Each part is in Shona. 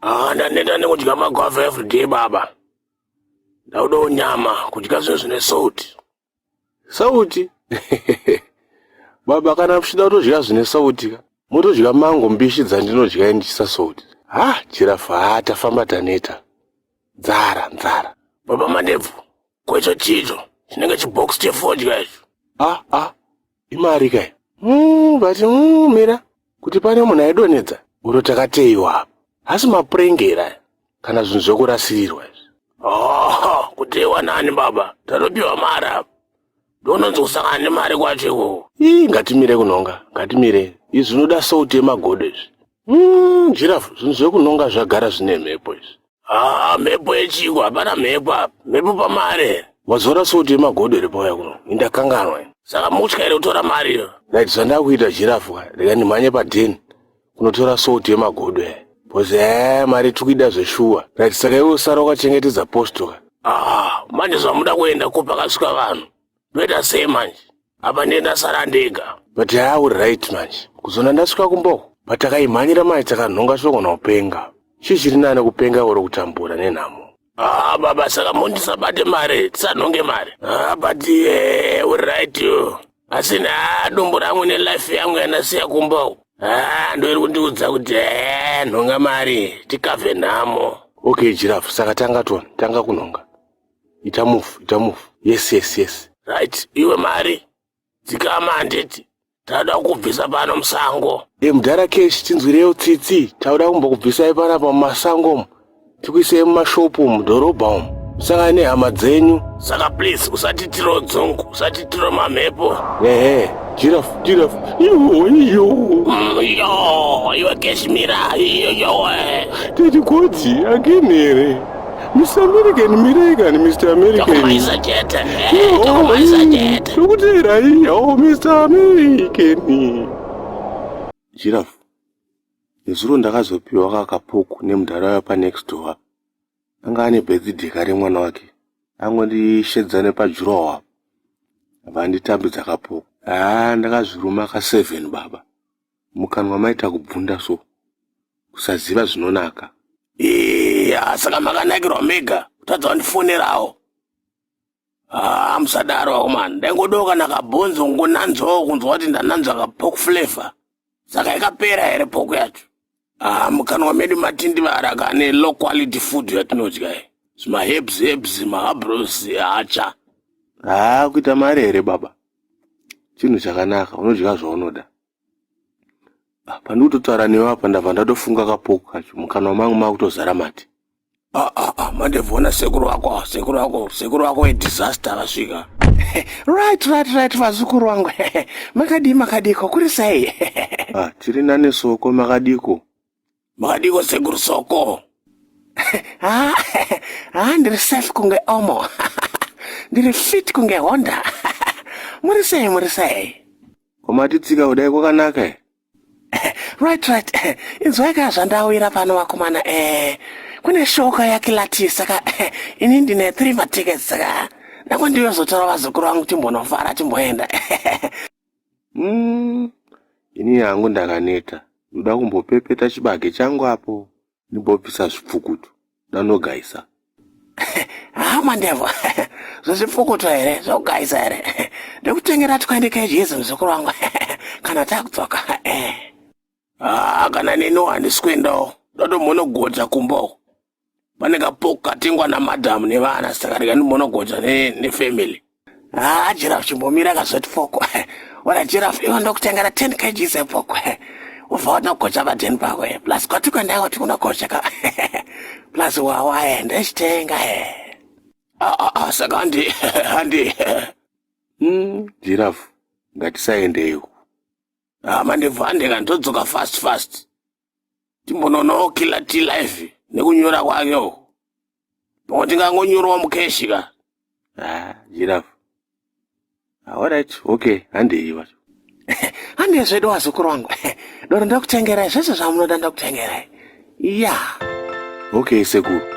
Ah, ndaneta nekudya magwavha everyday baba. Ndaudawo nyama, kudya zvinhu zvine sauti. Sauti? baba kana muchida kutodya zvine sauti ka. Motodya mango mbishi dzandinodya ndichisa sauti. Ha, jirafa ha tafamba taneta. Nzara, nzara. Baba Mandebvu, kwecho chicho chinenge chibox chefodya icho. Ah, ah. imari kai mm, but mm, mira kuti pane munhu aidonhedza uro takateiwa apa hasi mapurengera kana zvinhu zvekurasirirwa izvi oh, kuteiwa nani baba tatopiwa mari apa ndononzi kusangana nemari kwacho ikoko ii ngatimire kunhonga ngatimire izvi zvinoda souti yemagodo izvi mm, jirafu zvinhu zvekunhonga zvagara zvine mhepo izvi haa mhepo yechiko hapana mhepo apa mhepo pamare mazora soti yemagodo iri pauya kuno indakanganwa saka mutya iri kutora mari iyo nait zvandakuita jirafu rega ndimhanye padheni kunotora soti yemagodo ya bhozi ee mari tiri kuida zveshuwa nait saka iwe usara ukachengetedza postoka haa manje zvamuda kuenda ko pakasvika vanhu ndoita sei manje apa ndiye ndasara ndega but yaa uri right manje kuzona ndasvika kumbo but takaimhanyira manje takanhonga shoko naupenga chii chiri nane kupenga oro kutambura nenhamo Ah, baba saka mondisabate mari tisanhonge mari ah, but eh, uri right you asi naa dumbu rangu nelife yangu yandasiya kumba uku ah, ndoiri kundiudza kuti eh, nhonga mari tikavhe nhamo okay jirafu saka tanga tona tanga kunhonga ita move ita move yes yes yes right iwe mari dzikama handiti tauda kukubvisa pano musango e mudhara kesh tinzwireyo tsitsi tauda kumbokubvisai panapa mumasango umu tikuisei mumashopu umu mudhorobha umu musangane nehama dzenyu saka please usatitiro dzungu usatitiro mamhepo ehe jirafu jirafu iyoiyo Mm, yo iwe keshmira iyoyowe tetikodzi akinhere Mr. American, mirai kani Mr. American. Tokumaiza jeta, eh, tokumaiza jeta. Tokutera iya, oh Mr. American. Giraffe, nezuro ndakazopiwa kakapuku nemudhara waya panext door. Anga ane birthday kare mwana wake. Angondishedzane pajuroho apa. Vanditambidza kapuku. Ah, ndakazviruma ka 7 baba. Mukanwa maita kubvunda so. Kusaziva zvinonaka. Iya saka makanakirwa mega kutadza wandifonerawo. Ah, musadaro akomana. Ndaingodawo kana kabhonzo kungonanzwawo kunzwa kuti ndananzwa kapork flavor. Saka ikapera here pork yacho? Ah, mukanwa medu matindivara kane low quality food yatinodya iyi. Zvima herbs herbs, mahabros, hacha. Haa kuita mari here baba? chinhu chakanaka unodya zvaunoda ah, pandiri kutotaura newe apa ndabva ndatofunga kapoku kacho mukanwa mangu makutozara mati ah, ah, ah, mandevona sekuru wako sekuru wako sekuru wako wedisaster vasvika right right right vazukuru wangu makadii makadiko kuri sei ah, tiri nani soko makadiko Makadiko sekuru soko? Ah, ah, ndiri safe kunge omo. ndiri fit kunge Honda. muri sei, muri sei? Kwamatitsika kudai kwakanaka eh? right right inzwai ka zvandawira pano vakomana eh kune shoka yakilati saka eh, ini ndine three matickets saka ndakwandiyozotora vazukuru vangu timbonofara timboenda mm, ini hangu ndakaneta ndoda kumbopepeta chibage changu apo ndimbobvisa zvipfukutu ndanogaisa haa mandevo zvezvipfukutu here zvogaisa here ndikutengera twaende kejezi muzukuru wangu kana takudzoka haa kana neniwo handisi kuendawo ndotomhonogodza kumbawo pane kapoku katengwa namadhamu nevana saka rega ndimbonogoja nefamily haa ah, jirafu chimbomira kazoti poko wona jirafu ivo ndokutengera 10 kgs epoko ubva watogocha padheni pako e plus kwati kuenda kwati kunogocha ka plus wawa e ndechitenga e ah, ah, ah, saka handi handi hmm, jirafu ngatisaendeiko mandibva handika ndodzoka fast fast timbonoonawo killer t life nekunyora kwake uko pamwe tingangonyorawo mukeshi ka ah, jirafu aorit ah, okay handei vacho handei zvedu wazukuru wangu doro ndakutengerai zvese zvamunoda ndakutengerai ya yeah. okay sekuru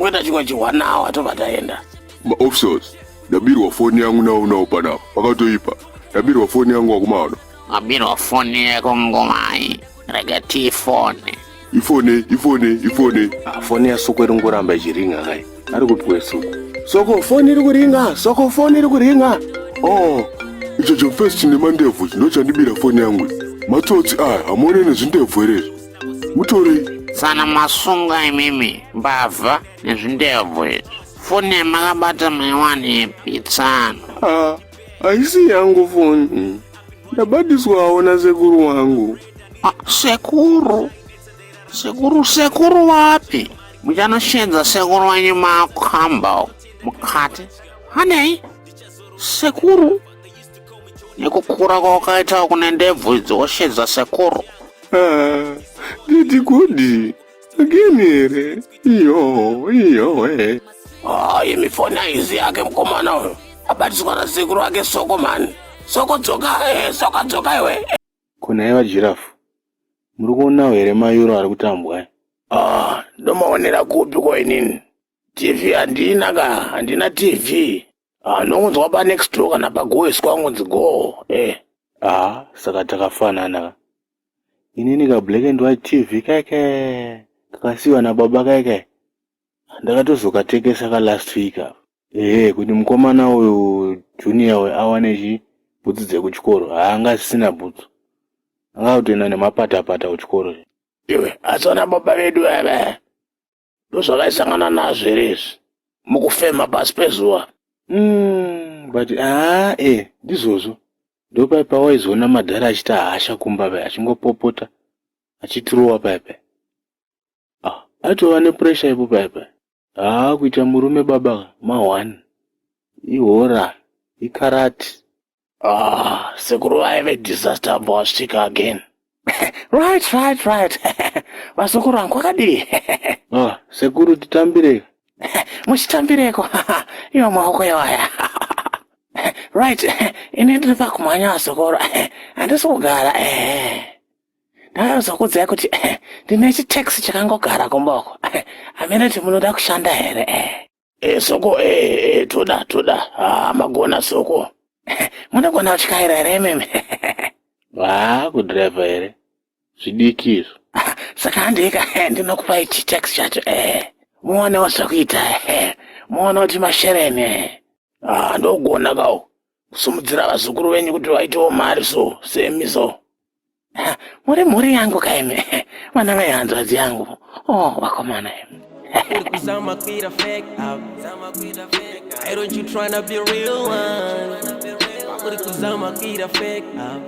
Weta chikwa chihwa nawo atobva taenda. Ma officers, ndabirwa foni yangu nawo nawo panapa. Pakatoipa. Ndabirwa foni yangu wakumaona. Wabirwa foni yako ngomai. Rega tii foni. Ifone, ifone, ifone. Ah, foni ya soko iri ngoramba ichiringa kai. Ari kupiwe soko. Soko foni iri kuringa, soko foni iri kuringa. Oh, icho chofesi chine mandebvu chinochandibira foni yangu. Matsotsi aya, hamuone nezvindebvu here izvo? mutorei sana masunga imimi mbavha nezvindebvu izvi foni yamakabata maiwani ipi tsano ah, haisi yangu foni ndabadiswawo nasekuru wangu ah, sekuru sekuru sekuru wapi muchanoshedza sekuru wenyu makamba mukati hanei sekuru nekukura kwawakaita kune ndebvu dzoshe dzasekuru ah, didi kudi agini here iyo iyo e ah, imi fona izi yake mukomana uyo abatiswa nasekuru ake soko mani soko dzoka eh, soko dzoka iwe kona iva jirafu muri kuonawo here mayuro ari kutambwa eh? ah, ndomaonera kupi ko inini tv handina ka handina tv anongonzi waba next door kana pagoeswa angonzi goo eh ah saka takafanana ka inini ka black and white tv keke kakasiwa nababa keke ndakatozokatekesa ka last week apa ehe kuti mukomana uyu junior uyu awane chi bhutsu dzekuchikoro haanga asisina bhutsu anga kutoenda nemapatapata kuchikoro iwe asi wana baba vedu ava ndozvavaisangana nazvo here izvi mukufema pasi pezuva mm, but aa e eh, ndizvozvo ndopai pawaizoona madhara achita hasha kumba pai achingopopota achitirowa pai pai ah, aitova nepuresha ipo pai pai haa ah, kuita murume baba ma one ihora ikarati Ah, sekuru vaive disaster mbowasvika again. right, right, right. Vazukuru vangu kwakadii? ah, sekuru titambirei. Muchitambireko. Iwo maoko iwaya. right, ini ndiri pakumhanya vazukuru. Handisi kugara. Ndakazokudzai kuti ndine chitaxi chakangogara kumboko. Hamene kuti munoda kushanda here? e soko e, e toda toda ah, magona soko munogona kutyaira here meme haa kudhiraivha here zvidiki izvo saka handika ndinokupai chitax chacho e muonewo zvakuita e muone kuti mashereni e ah, ndogona kawo kusumudzira vazukuru venyu kuti vaitewo mari so semi so muri mhuri yangu kaimi vana vai hanzvadzi yangu o oh, vakomana imi Why don't you tryna be real one? Why would it cause I'm a kid I fake up?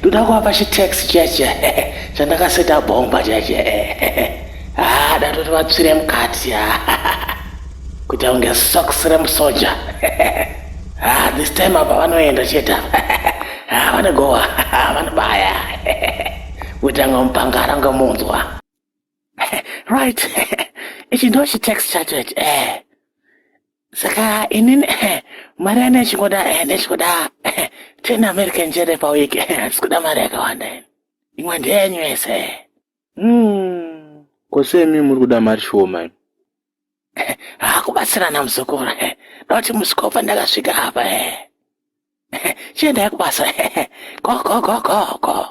ndoda kuvapa chitax chiya chiya chandakaseta bhomba chiya chiya ah, datoti vatsvire mukati kuita kunge sox remusoja ah, this time apa vanoenda chete ah, vanogowa vanobaya kuita kunge mupangara kunge munzwa right ichi ndo chitex chacho ichi eh saka inini eh, mari yana ichingoda eh, ndechikuda eh, ten american jere pawiki handisi kuda mari yakawanda ini imwe ndeyenyu yese mm. ko semi muri kuda mari shoma hakubatsirana muzukuru noti musikopa ndakasvika apa chiendai kubasa go go go go go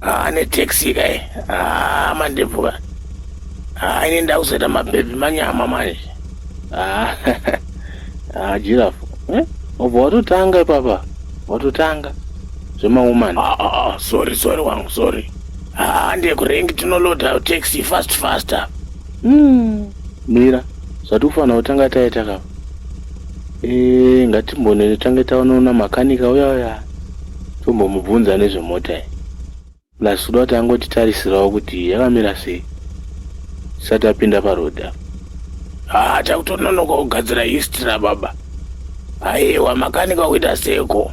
haa netaxi kai haa mandebvuka haa ini ndakuzoita mabhebhi manyama manje haa haa jirafu eh? obva watotanga ipapa watotanga zvemawoman ah, ah, ah, sorry sorry wangu sorry haa ndekurengi tinoloda taxi fast faster mm. mira zvati kufanira kutanga taita kapa Eh, ngatimbone tange taonoona makanika uya uya tombomubvunza nezvemota iyi plus kuda kuti angotitarisirawo kuti yakamira sei tisati apinda paroad apa haa takutononoka kugadzira history rababa aiwa makanika kuita seko